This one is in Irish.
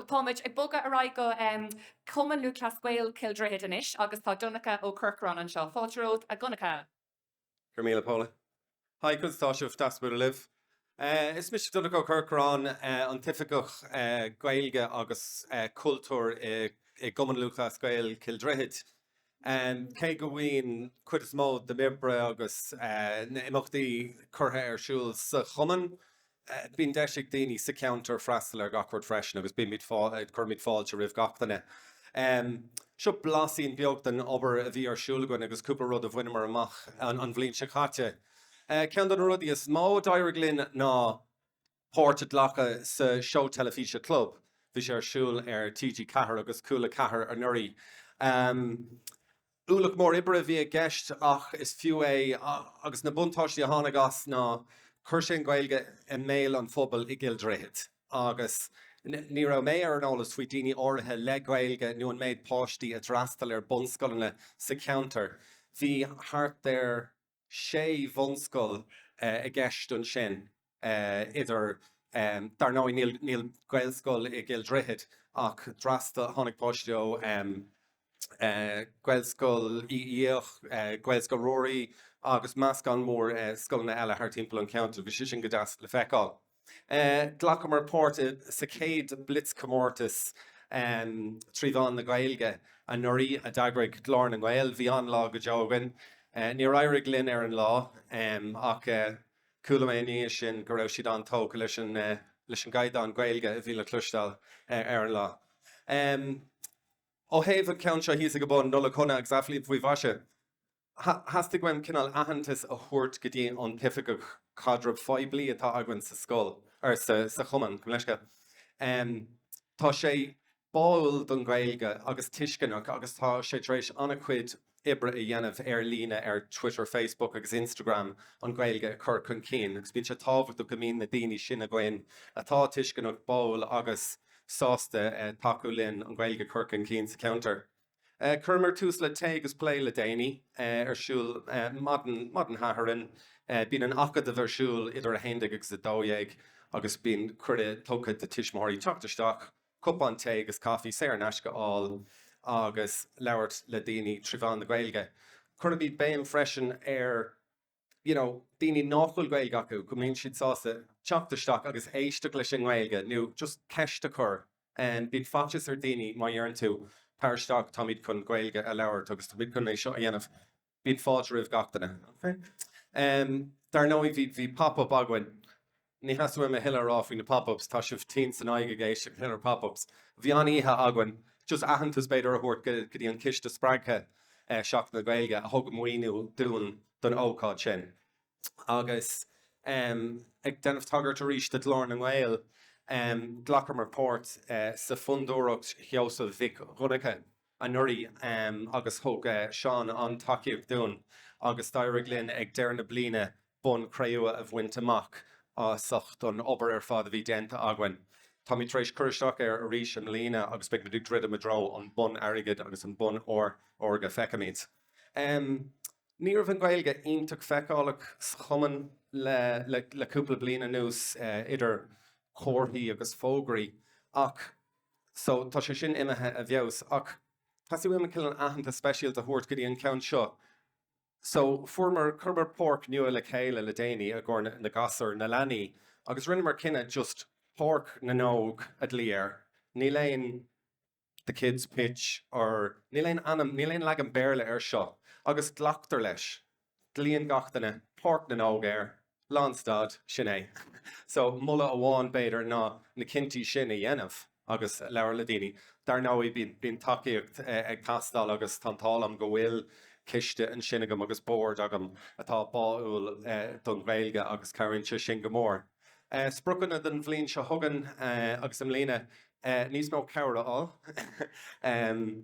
Táimid ag bogadh ar aghaidh go Cumann Lúthchleas Gael Chill Droichid anois agus tá Donncha Ó Corcoráin anseo. Fáilte romhat a Dhonncha. Go raibh míle Paula. Hi a chairde, tá sé an-deas bualadh libh. Is mise Donncha Ó Corcoráin, an tOifigeach Gaeilge agus Cultúir i gCumann Lúthchleas Gael Chill Droichid. Cé go mbíonn cuid is mó de m'obair agus na himeachtaí curtha ar siúl sa chumann, bíonn deis ag daoine sa cheantar freastal ar gach rud freisin agus bímid cuirimid fáilte roimh gach duine. Seo blaisín beag den obair a bhí ar siúl againn agus cúpla rud a bhaineamar amach an bhliain seo caite. Ceann de na rudaí is mó a d'éirigh linn ná. páirt a ghlacadh sa seó teilifíse Club. Bhí sé ar siúl ar TG Ceathair agus Cúl 4 anuraidh. Ualach mór oibre a bhí i gceist ach is fiú é agus na buntáistí a tháinig as ná chuir sé an Ghaeilge i mbéal an phobail i gCill Droichid agus ní raibh mé ar an eolas faoi daoine áirithe le Gaeilge nó an méid páistí a d'fhreastail ar bunscoileanna sa cheantar. Bhí thart ar. sé bhunscoil i gceist ansin idir dar ndóigh níl gaelscoil i gCill Droichid ach d'fhreastail tháinig páistí ó Ghaelscoil Uí Fhiaich, Gaelscoil Ruairí agus meascán mór scoileanna eile thart timpeall an cheantair agus bhí sé sin go deas le feiceáil. Ghlacamar páirt sa chéad blitzchomórtas trí mheán na Gaeilge anuraidh a d'eagraigh Glór na nGael. Bhí an-lá go deo againn. Níor éirigh linn ar an lá ach chuala mé ina dhiaidh sin go raibh siad an-tógtha leis an gcaighdeán Gaeilge a bhí le cloisteáil ar an lá. Ó thaobh an ceann seo thíos ag an mbun, Nollaig Shona agus Athfhliain faoi mhaise! Theastaigh uaim cineál aitheantas a thabhairt go dtí an oifigeach caidreamh poiblí atá againn sa scoil, or sa chumann, gabh mo leithscéal. Tá sé báúil don Ghaeilge agus tuisceanach agus tá sé tar éis an-chuid oibre a dhéanamh ar líne ar Twitter, Facebook agus Instagram an Ghaeilge a chur chun cinn agus bíonn sé tábhachtach go mbíonn na daoine sin againn atá tuisceanach, báúil agus sásta tacú linn an Ghaeilge a chur chun cinn sa cheantar. Chuireamar tús le Tae agus Plé le déanaí, ar siúl maidin Dé Sathairn. Bíonn an tAcadamh ar siúl idir 11 agus 12 agus bíonn cuireadh tugtha do tuismitheoirí teacht isteach, cupán tae agus caife saor in aisce a fháil agus labhairt le daoine trí mheán na Gaeilge. Cuirimid béim freisin ar. you know daoine nach bhfuil Gaeilge acu go mbíonn siad sásta teacht isteach agus éisteacht leis an nGaeilge nó just ceist a chur bíonn faitíos ar daoine má dheireann tú tar isteach táimid chun Gaeilge a labhairt agus táimid chun é seo a dhéanamh bíonn fáilte roimh gach duine dar ndóigh bhí pop up againn Ní theastaíonn uaim a thuilleadh a rá faoi na Pop Ups, tá sibh tinn san aghaidh ag éisteacht leis na Pop Ups. Bhí an-oíche againn, just aitheantas b'fhéidir a thabhairt go dtí an Ciste Spreagtha Seachtain na Gaeilge a thug maoiniú dúinn don ócáid sin. Agus ag déanamh tagairt arís do Ghlór na nGael, glacamar páirt sa Fhondúireacht Sheosaimh Mhic Dhonncha. anuraidh agus thug Seán an-tacaíocht dúinn agus d'éirigh linn ag deireadh na bliana Bonn Cré-umha a bhaint amach as ucht an obair ar fad a bhí déanta againn. Táimid tar éis cur isteach air arís i mbliana agus beidh muid ag druidim i dtreo an Bonn Airgid agus an Bonn Órga, feicfimid. Ní raibh an Gaeilge iontach feiceálach sa chumann le cúpla bliain anuas, idir chomharthaí agus fógraí, ach So, tá sé sin imithe i bhfeabhas. Ach teastaíonn uaim cineál aitheantas speisialta a thabhairt go dtí an ceann seo. So, fuaireamar, chuireamar páirc nua le chéile le déanaí i gcomhair na ngasúr, na leanaí. Agus rinneamar cinneadh just Páirc na nÓg a ghlaoch air. Níl aon the kids' pitch or níl aon ainm, níl aon leagan Béarla air seo. Agus glactar leis. Glaonn gach duine Páirc na nÓg air, lánstad, sin é. So, moladh amháin, b'fhéidir, ná na cinntí sin a dhéanamh agus labhair le daoine. Dar ndóigh, bíonn tacaíocht ag teastáil agus tá an t-ádh liom go bhfuil coiste ansin agam agus bord agam atá báúil don Ghaeilge agus cabhraíonn sé sin go mór. Spriocanna don bhliain seo chugainn agus i mbliana, níos mó cabhair a fháil.